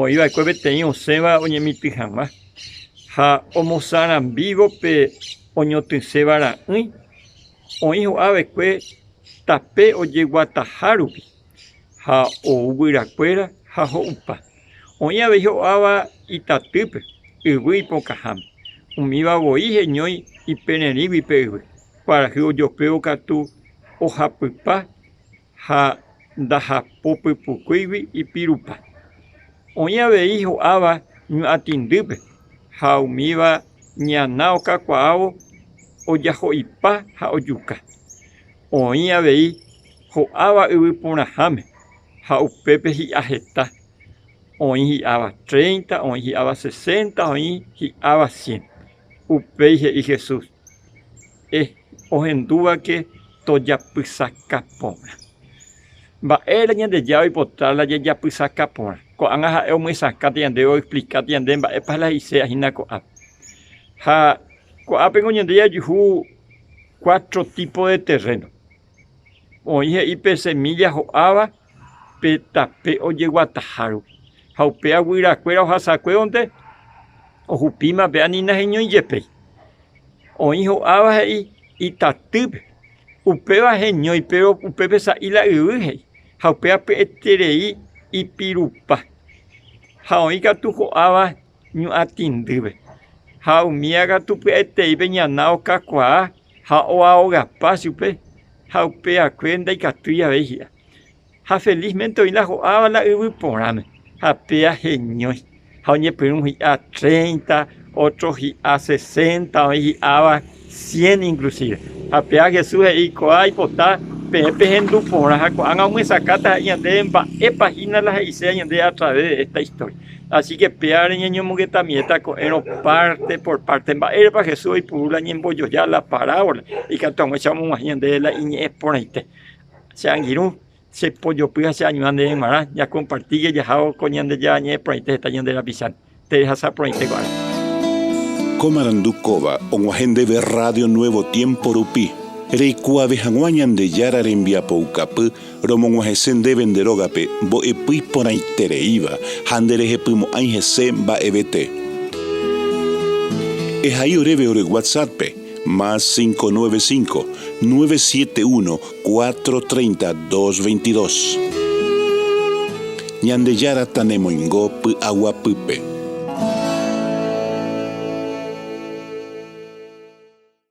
Oĩ va'ekue peteĩ osẽva oñemitỹ hag̃ua ha omosarambívo pe oñotỹséva ra'ỹi, oĩ ho'a va'ekue tape ojeguataha rupi ha ou guyra kuéra ha ho'upa. Oĩ avei ho'áva itatýpe, yvy ipokãháme. Umíva voi heñói ipererĩgui pe yvy. Kuarahy ojopévo katu ohapypa ha ndahapopypukúigui ipirupa. Oĩ avei ho'áva ñuatĩndýpe ha umíva ñana okakuaávo ojaho'ipa ha ojuka. Oĩ avei ho'áva yvy porãháme ha upépe hi'a heta, oĩ hi'áva tréinta, oĩ hi'áva sesénta, oĩ hi'áva sién. Upéi he'i Jesús. Eh, ohendúvake tojapysaka porã. Mba'ére Ñandejára oipota la jajapysaka porã? Ko'ág̃a ha'e omyesakãta ñandéve oexplikáta ñande mba'épa la he'iséva hína ko'ápe. Ha ko'ápeko ñande jajuhu cuatro tipos de terreno. Oĩ he'i pe semilla ho'áva. pe tape ojeguataha rupi, ha upéva guyrakuéra ohasakuévonte ohupíma pe ani naheñói jepéi. Oĩ ho'áva he'i itatýpe, upéva heñói péro upépe sa'i la yvy he'i, ha upéva py'eterei ipirupa. Ha oĩ katu ho'áva ñu'atĩndýpe, ha umíva katu py'aiteípe ñana okakuaa ha oaogapa chupe ha upe akue ndaikatúi avei hi'a. Ha felizmente oĩ la ho'áva la yvy porãme, ha péa heñói. Ha oñepyrũ hi'a treinta, ótro hi'a sesenta, oĩ hi'áva cien inklusíve. Ha péa Jesús he'i ko'ã aipota peẽ pehendu porã ha ko'ág̃a omyesakátaha'e ñandéve mba'épa hína la he'ise añandéve atraves de esta istória. Asíke péva reñeñomongetamieta ko'ẽrõ párte por párte. Mba'érepa Jesús oipuru la ñembojoja la parábola? Ikatu hag̃uáicha omog̃uahẽ ñandéve la iñe'ẽ porãite. Che angirũ chepojopy ha cheañuã ndéve g̃uarã ñakompartíke jahávo ko Ñandejára Ñe'ẽ porãite heta ñande rapicháre. Terehasa porãite ko ára. Ko marandu kóva og̃uahẽ ndéve rrádio Nuevo Tiempo rupi, reikuaave hag̃ua Ñandejára rembiapoukapy Romog̃uahẽse ndéve nde rógape mbo'epy iporãitereíva ha nderehepymo'ãi hese mba'evete. Ehai oréve ore WhatsApp-pe, más cinco nueve cinco, nueve siete uno, cuatro treinta, dos veintidós. Ñandejára tanemoingo py'aguapýpe.